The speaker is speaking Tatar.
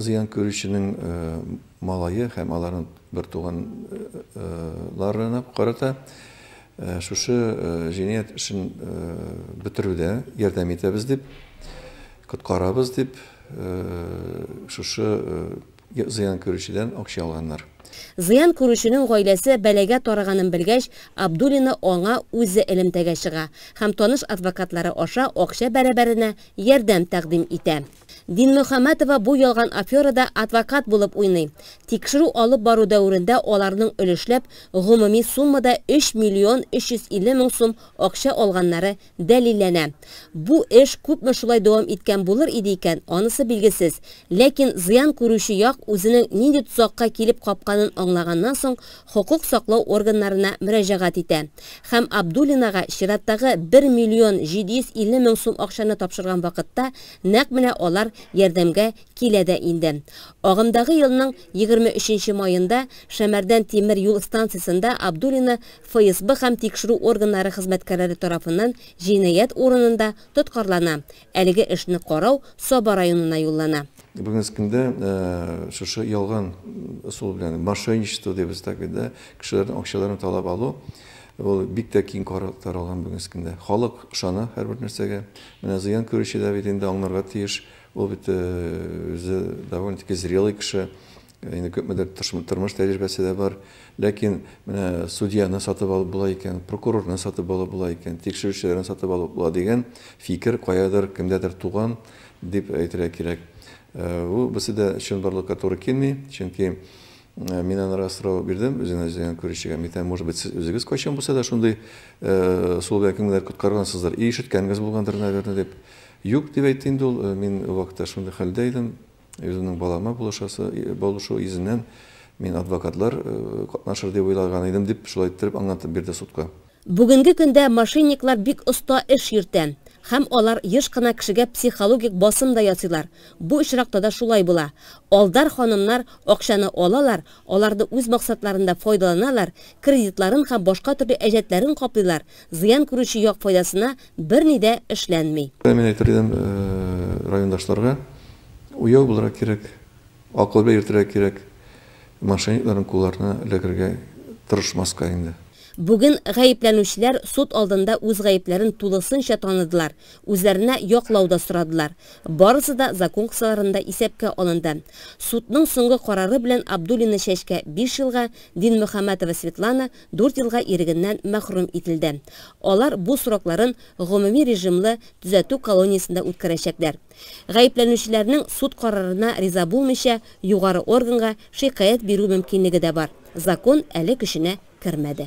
Зыян күрүченең малае һәм аларның бертуган ларына карата шушы җинаять эшен бетерүдә ярдәм итәбез дип, коткарабыз дип, шушы зыян күрүчедән акча алганнар. Зыян күрүченең гаиләсе бәлагә тарыганын белгәч, Абдуллина аңа үзе элемтәгә чыга һәм таныш адвокатлары аша акча бәрабәренә ярдәм тәкъдим итә. Динмөхәмәтова бу ялган аферада адвокат булып уйный. Тикшерү алып бару дәверендә аларның өлешләп гомуми суммада 3 миллион 350 мең сум акча алганнары дәлилләнә. Бу эш күпме шулай дәвам иткән булыр иде икән, анысы билгесез. Ләкин зыян күрүче як үзенең нинди тозакка килеп капканын аңлаганнан соң хокук саклау органнарына мөрәҗәгать итә һәм Абдуллинага чираттагы 1 миллион 750 мең сум акчаны тапшырган вакытта Нәкъ менә алар ярдәмгә килә дә инде. Агымдагы елның егерме өченче маенда Шәмәрдән тимер юл станциясендә Абдуллина ФСБ һәм тикшерү органнары хезмәткәрләре тарафыннан җинаять урынында тоткарлана, әлеге эшне карау Саба районына юллана. Бүгенге көндә шушы ялган ысул белән, мошенничество дибез так бит, да, кешеләрнең акчаларын талап алу, ул бик тә киң таралган бүгенге көндә. Халык ышана һәрбер нәрсәгә. Менә зыян күрүче дә бит инде аңнарга тиеш, ул бит үзе довольно-таки зрелый кеше, инде күпмедер тормыш тәҗрибәсе дә бар. Ләкин менә судьяны сатып алып була икән, прокурорны сатып алып була икән, тикшерүчеләрне сатып алып була дигән фикер каядыр, кемдәдер туган дип әйтергә кирәк. Ул берсе дә чынбарлыкка туры килми, чөнки Мин анарга сорау бирдем, үзен эзләгән күрүчегә. Митәм, может быть, сез үзегез кайчан булса да шундый э, сул белән кемнедер коткаргансыздыр. И ишеткәнгез булгандыр, наверное, дип. Юк, дип әйтте инде ул. Э, мин ул вакытта шундый хәлдә идем. Үземнең балама булышасы, булышу йөзеннән мин адвокатлар э, катнашыр дип уйлаган идем, дип шулай иттереп аңлатып бирде судка. Бүгенге көндә мошенниклар бик оста эш йөртә. Һәм алар еш кына кешегә психологик басым да ясыйлар. Бу очракта да шулай була. Алдар ханымнар акчаны алалар, аларны үз максатларында файдаланалар, кредитларын һәм башка төрле әҗәтләрен каплыйлар, зыян күрүче як файдасына берни дә эшләнми. Мин әйтер идем райондашларга, уяу булырга кирәк, Акылга йөртергә кирәк, мошенникларның кулларына эләгергә тырышмаска инде. Бүген гаепләнүчеләр суд алдында үз гаепләрен тулысынча таныдылар, үзләренә яклау да сорадылар. Барысы да закон кысаларында исәпкә алынды. Судның соңгы карары белән Абдуллина Чәчкә биш елга, Динмөхәммәтова Светлана дүрт елга ирегеннән мәхрүм ителде. Алар бу срокларын гомуми режимлы төзәтү колониясендә үткәрәчәкләр. Гаепләнүчеләрнең суд карарына риза булмыйча, югары органга шикаять бирү мөмкинлеге дә бар, закон әле көченә кермәде.